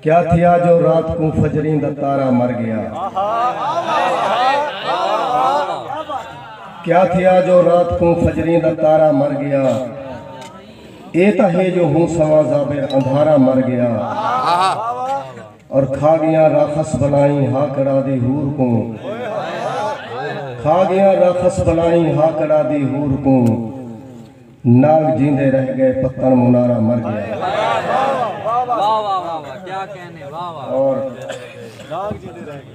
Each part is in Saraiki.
کیا تھیا جو رات کوں فجریں دا تارا مر گیا کیا تھیا جو رات کوں فجریں دا تارا مر گیا اے تا ہے جو ہوں سواں زابر اندھارا مر گیا اور کھا گیا راخص بلائیں ہا کڑا دی ہور کوں کھا گیا راخص بلائیں ہا کڑا دی ہور کوں نانگ جیندے رہ گئے پتن منارا مر گیا۔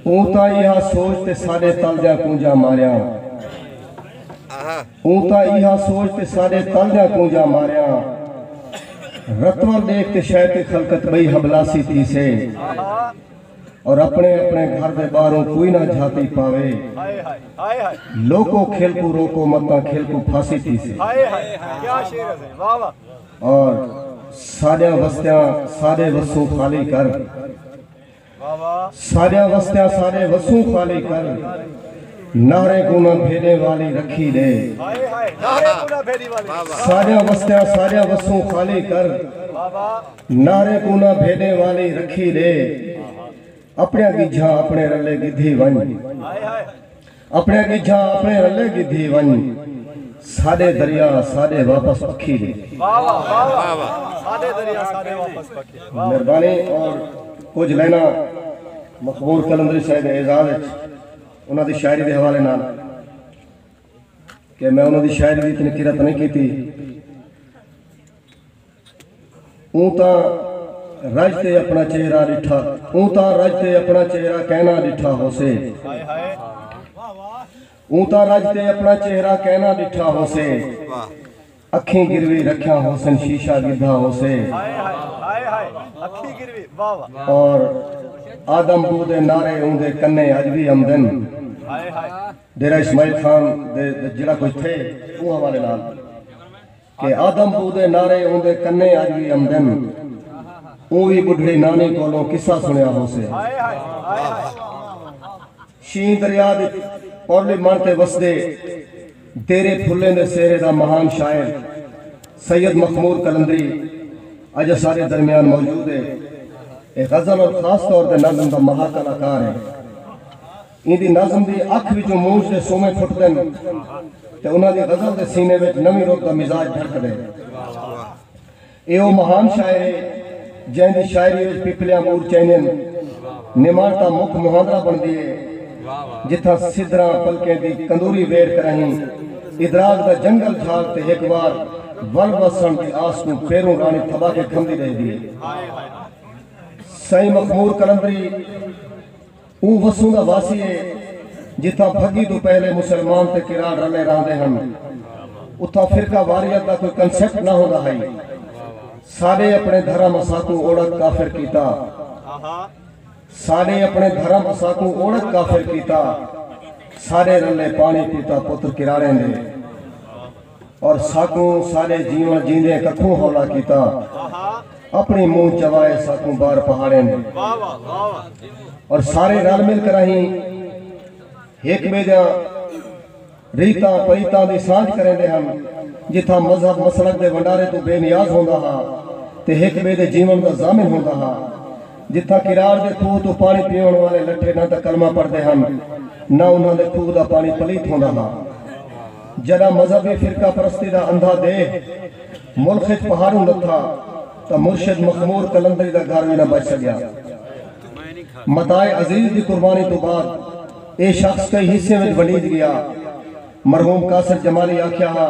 اوں تاں ایہا سوچ تے ساڈے تل دیاں کونجاں ماریاں۔ اوں تاں ایہا سوچ تے ساڈے تل دیاں کونجاں ماریاں۔ رتول ڈیکھ تے شیطیں خلقت بئی حبلاسی تھیسے۔ اور اپنے اپنے گھر دے باہروں کوئی نہ جھاتی پاوے۔ لوکو کھل کوں روکو متاں کھل کوں پھاسی تھیسے۔ اور ساڈیاں وستیاں ساڈے وسوں خالی کر۔ ساڈیاں وستیاں ساڈے وسوں خالی کر۔ نہریں کوں نہ بھیڈیں والی رکھی ڈے۔ ساڈیاں وستیاں ساڈیاں وسوں خالی کر۔ نعرے کوں نہ بھیݙیں والی رکھی ݙے اپݨیاں ڳجھاں اپݨے رلے ڳدھی ونڄ اپݨیاں ڳجھاں اپݨے رلے ڳدھی ونڄ ساݙے دریا ساݙے واپس پکھی ݙے۔ مہربانی اور کجھ لائناں مخبور قلندری سائیں دے اعزاز اچ انہاں دی شاعری دے حوالے نال کہ میں انہاں دی شاعری دی اتنی قرت نئیں کیتی۔ اوں تاں رج تے اپݨا چہرہ ݙٹھا اوں تاں رج تے اپݨا چہرہ کیناں ݙٹھا ہوسے اوں تاں رج تے اپݨا چہرہ کیناں ݙٹھا ہوسے اکھیں گروی رکھیاں ہوسن شیشہ ڳدھا ہوسے اور آدم بو دے نعرے اوں دے کنے اڄ وی امدن ڈیرہ اسماعیل خان دے جیڑھا کچھ تھے اوں حوالے نال کہ آدم بو دے نعرے اوندے کنیں اج وی امدن اوں وی بڈھڑی نانی کولوں قصہ سنڑیا ہوسے شینہہ دریا دی پرلی مڑ تے وسدے دیرے پھلیں دے سہرے دا مہان شاعر سید مخمور قلندری اج اساڈے درمیان موجود ہے اے غزل اور خاص طور تے نظم دا مہا کلاکار ہے۔ ایندی نظم دی اکھ وچوں موج دے سومے پھٹدن تے انہاں دی غزل دے سینے وچ نویں رت دا مزاج دھڑکدے۔ ایہ او مہان شاعر ہے جئیں دی شاعری وچ پپلیاں مور چئیندین، نماݨ تاں مک مہاندرا بݨدی ہے، جتھاں سدھراں پلکیں دی کندوری ویڑھ کراہیں ادراک دا جنگل جھاگ تے ہک وار ول وسݨ دی آس کوں پیروں راݨی تھٻا کے کھمدی ݙیہدی ہے۔ سئیں مخمور قلندری۔ اوں وسوں دا واسی ہے جتھاں بھگی توں پہلے مسلمان تے کراڑ رلے راہندے ہن۔ اتھاں فرقہ واریت دا کوئی کنسپٹ نہ ہوندا ہئی۔ ساڈے اپنے دھرم اساکوں اوڑک کافر کیتا۔ ساڈے اپنے دھرم اساکوں اوڑک کافر کیتا۔ ساڈے رلے پانی پیتا پتر کراڑیں دے۔ اور ساکوں سارے جیون جیندے ککھوں ہولا کیتا اپنی منہ چوائے ساکوں بار پہاڑیں دے اور سارے رل مل کراہیں ہک بے دیاں ریتاں پریتاں دی سانجھ کریندے ہن جتھاں مذہب مسلک دے ونڈارے توں بے نیاز ہوندا ہا تے ہک بے دے جیون دا ضامن ہوندا ہا جتھاں کراڑ دے کھوہ توں پانی پیون والے لٹھے نہ تاں کلمہ پڑھدے ہن نہ انہاں دے کھوہ دا پانی پلیت ہوندا ہا۔ جݙاں مذہبی فرقہ پرستی دا اندھا دیہہ ملخ اچ پہاڑوں لتھا تاں مرشد مخمور قلندری دا گھر وی نہ بچ سڳیا۔ متاع عزیز دی قربانی توں بعد ایہ شخص کئی حصیاں وچ ونڈیج ڳیا۔ مرحوم قاصد جمالی آکھیا ہا۔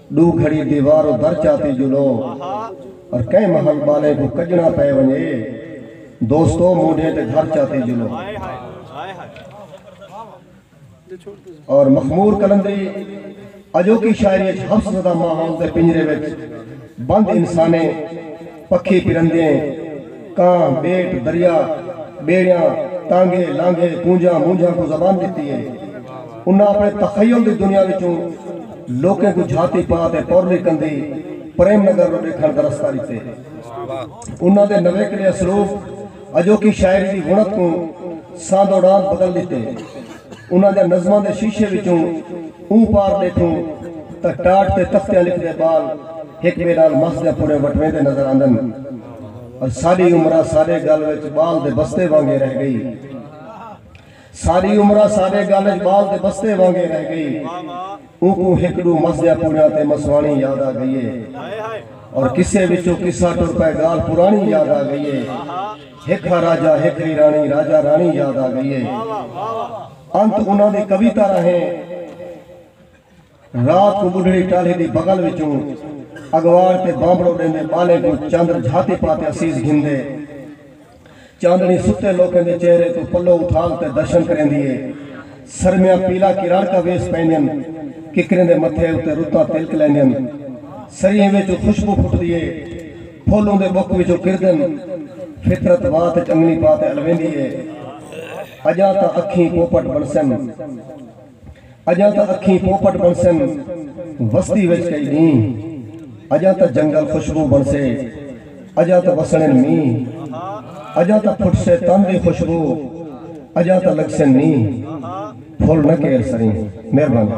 ݙو گھڑی دیوار و در چاتی جلو اور کہیں محل ٻالیں کوں کڄݨا پئے ونڄے دوستو مونڈھیں تے گھر چاتی جلو اور مخمور قلندری اڄوکی شاعری اچ حبس زدہ ماحول دے پنجرے وچ بند انسانیں پکھی پرندیں، کاں، بیٹ، دریا، بیڑیاں، تانگھے، لانگھے، کونجھاں، مونجھاں کوں زبان ڈتی ہے۔ انہاں اپنے تخیل دی دنیا وچوں لوکیں کوں جھاتی پا تے پورلی کندھی پریم نگر نوں ڈیکھنڑ دا رستہ ڈتے۔ انہاں دے نویکلے اسلوب اجوکی شاعری دی وونت کوں ساندوڑاند بدل ڈتے۔ انہاں دیاں نظماں دے شیشے وچوں اوں پار ݙیکھوں تاں ٹاٹ تے تختیاں لکھدے ٻال ہک ٻئے نال مس دیاں پھڑیں وٹویندے نظر آندن پر ساݙی عمرا ساݙے ڳل وچ ٻال دے بستے وانگے رہ ڳئی ساݙی عمرا ساݙے ڳل وچ ٻال دے بستے وانگے رہ ڳئی۔ اوکوں ہک ڈو مسجاں پوریاں تے مسواݨی یاد آ گئی اے اور قصے وچوں قصہ ٹر پئے گالھ پراݨی یاد آ گئی اے ہک ہا راجہ ہک ہئی راݨی راجہ راݨی یاد آ گئی اے انت انہاں دی کویتا راہیں رات کوں بڈھڑی ٹالھی دی بغل وچوں اگواڑ تے بانبڑو ڈیندے بالیں کوں چندر جھاتی پاتے اسیس گھندے چاندنی ستے لوکیں دے چہرے توں پلو اتھال تے درشن کریندی ہے۔ سرمیاں پیلا کراڑکا ویس پیندین۔ ککریں دے متھے اتے رتاں تلک لیندین۔ سریہیں وچوں خوشبو پھٹدی ہے۔ پھل اوندے ٻک وچوں کردن۔ فطرت وات وچ انگنی پا تے الویندی ہے۔ اڄاں تاں اکھیں پوپٹ بݨسن۔ اجاں تاں اکھیں پوپٹ بݨسن وستی وچ کئی ݙینہہ اجاں تاں جنگل خوشبو بݨسے اجاں تاں وسݨن مینہہ اجاں تاں پھٹسے تن دی خوشبو اجاں تاں لڳسن نینہہ پھل نہ کیر سریں مہربانی۔